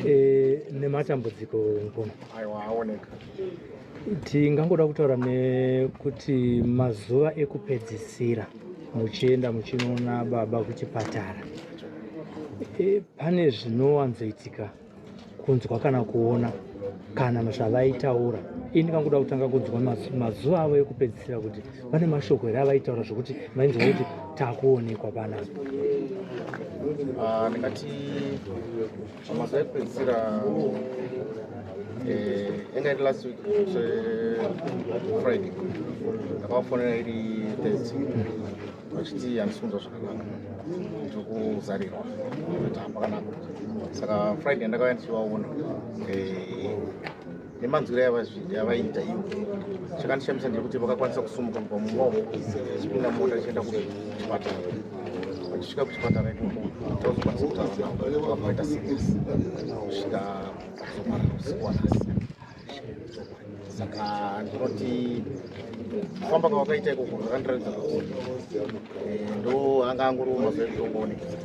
e, nematambudziko mukoma aiwa aoneka tingangoda kutaura nekuti mazuva ekupedzisira muchienda muchinoona baba kuchipatara e, pane zvinowanzoitika kunzwa kana kuona kana zvavaitaura ini kanguda kutanga kunzwa mazuva avo ekupedzisira kuti pane mashoko here avaitaura zvekuti mainzi vaiti takuonekwa panapa ah, ndingati mazuva ekupedzisira yanga eh, iri last week friday ndakavafonera iri thursday vachiti handisunza zvakanaka ndiri kuzarirwa ati hapakanaka saka friday ndakauya ndichivaona eh, nemanzwiro yavaiita ivo chakandishamisa ndekuti vakakwanisa kusumuka kubva mumba umo chipinda mota chienda kuchipatara vachisvika kuchipatara tauzokwanisa kutauravaita siris kusvika kuzomara usiku wanhasi saka ndinoti kufamba kwavakaita ikoko zvakandiratidza kuti eh, ndo anga angoriwo mazuva ekutongoonekesa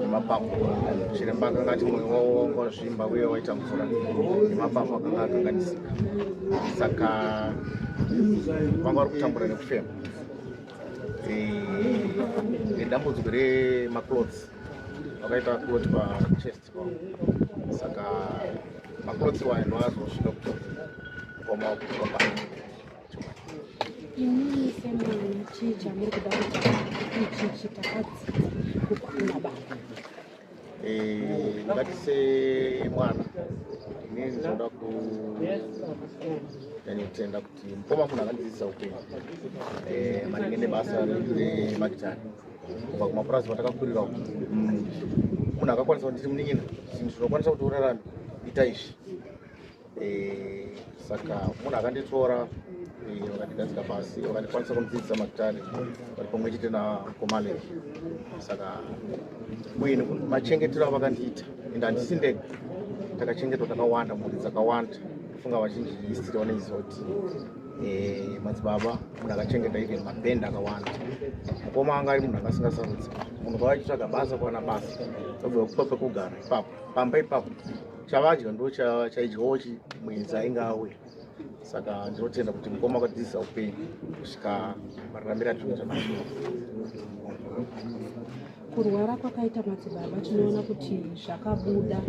nemapapu chiremba akanga ati mwoyo wavo wakazvimba uye waita mvura nemapapu akanga akanganisika saka vanga vari kutambura nekufema nedambudziko remacloths vakaita clot pachest pavo saka macloths waya ndoazosvika kutoa kuoma kutoa Ini semwana chii chamuri kuda kuti ichichi takadzidza kukwana baba eh, ngatise mwana inini ndinoda ku yani kutenda kuti mukoma munhu akandidzidzisa upenyu eh, maringe nebasa remakitari kubva kumapurazi matakakurira uku mm. munhu akakwanisa kuti ndiri munin'ina zvinhu zvinokwanisa kuti urarame ita izvi Eh, saka munhu akanditora eh, vakandigadzika pasi vakandikwanisa kundidzidzisa magitari vari pamwe chete nakomale saka muini machengetero avakandiita and handisi ndega takachengetwa takawanda mhuri dzakawanda ndofunga vazhinji histiri vanoizoti eh, madzibaba munhu akachengeta even mabhend akawanda mukoma anga ari munhu akasingasarudzi munhu kwavachitsvaga basa kwana basa vabva vakupa pekugara ipapo pamba ipapo chavadya ndo chaidyawo chi mwenzi ainge auya saka ndinotenda kuti mukoma akadzidza upenyu kusvika mararamira zvinhu zvamazuva kurwara kwakaita madzibaba tinoona kuti zvakabuda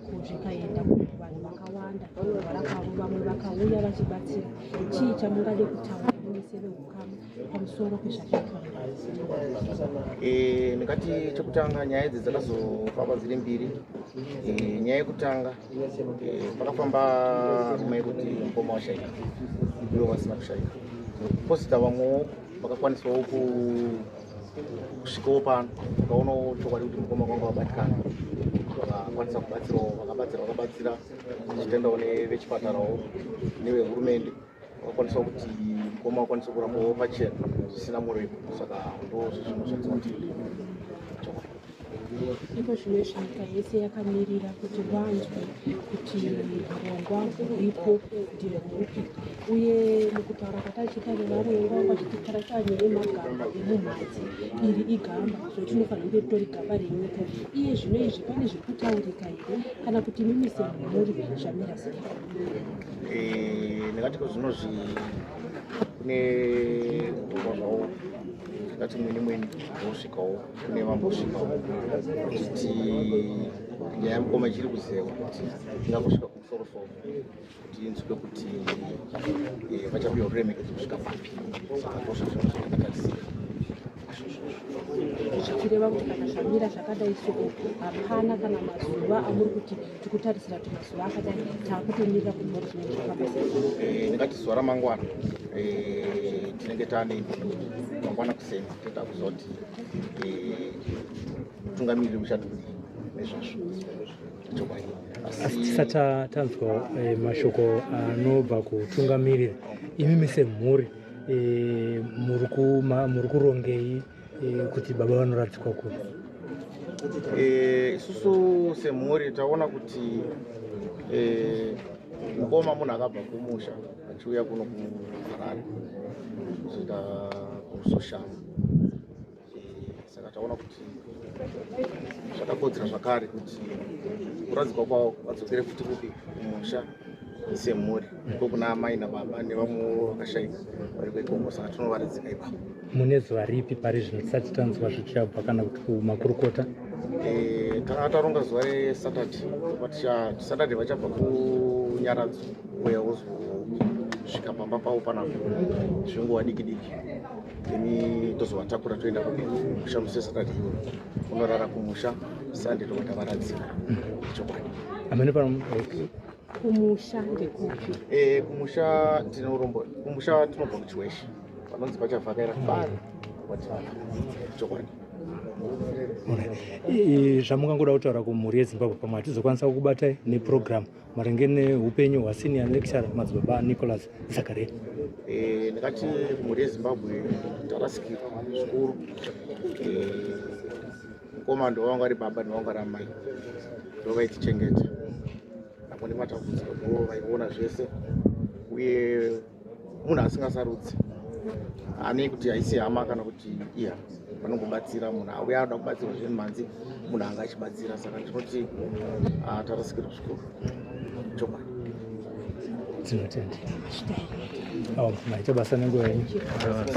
kuzvikaenda vanhu vakawanda kurwara kwavo vamwe vakauya vachibatsira chii chamungade kutaura kune sevehukama pamusoro pezvakaitwa eh, ndingati chekutanga nyaya idzi dzakazofamba dziri mbiri eh, nyaya yekutanga eh, pakafamba rume yekuti mukoma washaika ivo vasina kushaika posita vamwewo vakakwanisawo kusvikawo pano vakaonawo chokwadi kuti mukoma kwanga vabatikana vakakwanisa kubatsirawo vakabatsira vakabatsira zvichitendawo nevechipatarawo nevehurumende wakwanisa kuti mukoma wakwanisa kurapawo pachena zvisina muripo saka ndozvinhu zvatinoti ndipo zvimwe zvenyika yese yakamirira kuti vanzwe kuti hurongwa huripo ndihweupi uye mukutaura kwatachiita nevarongwa vachititara kanye emagamba emumhatsi iri igamba zvatinofanira kunge ritori gamba renyika iye zvino izvi pane zviri kutaurika here kana kuti mimi semhuri zvamira sei Eh, ndingati kozvinozvi kune kudhoma zvavo ndingati mwini mwini vosvikawo kune vambosvikawo kuti nyaya yamukoma ichiri kuzewa kuti ingakusvika kumusoro soro kuti inzwe kuti eh, vachapiwa ruremekedzo kusvika papi saka ndosvozvinozvakatarisira zvichireva kuti kana zvamira zvakadai so hapana kana mazuva amuri kuti tikutarisira kuti mazuva akadai taakutomirira kuti mori zvinenge zvakaaingati eh, zuva ramangwana eh, tinenge taane mangwana kuseni toita kuzoti eh, mutungamiriri uchati kudii nezvazvo chokwadi asi tisati tanzwa mashoko anobva kutungamiriri imi mise mhuri e, muri kurongei e, kuti baba vanoradzikwa kupi e, isusu e, semhuri taona kuti e, mukoma munhu akabva kumusha achiuya kuno kuharare kuzoita kusoshama saka taona kuti zvakakodzera zvakare kuti kuradzikwa kwavo vadzokere futi kupi kumusha semhuri ko kuna amai nababa nevamwewo vakashaika vari kwekongo saka tinovaradzika ipapo mune zuva ripi pari zvino tisati tanzwa zvichabva kana kuti kumakurukota eh, tanga taronga zuva resaturday but saturday vachabva kunyaradzo uya wozosvika pamba pavo panapo zvinguva diki diki ini tozovatakura toenda kumusha muse satadi iyoyo unorara kumusha sande tobva tavaradzira chokwadi amene pano kumusha ndekupi eh kumusha tinorombo kumusha tinobva kuchiweshe panonzi pachavhakaira kubari kwativana chokwadi zvamungangoda kutaura kumhuri yezimbabwe pamwe hatizokwanisa kukubatai neprogramu maringe neupenyu hwasenior lecturer madzibaba nicholas zakaria eh, ndakati mhuri yezimbabwe tarasikirwa zvikuru eh, mukoma ndovanga ari baba ndovanga ari amai ndovaichichengeta apo nematambudziko ndo vaiona zvese uye munhu asingasarudzi anei kuti haisi hama kana kuti iya vanongobatsira munhu auya anoda kubatsirwa zveni manzi munhu anga achibatsira saka tinoti ah, tarasikirwa zvikuru chokwadi tinotenda maita basa nenguva yenyu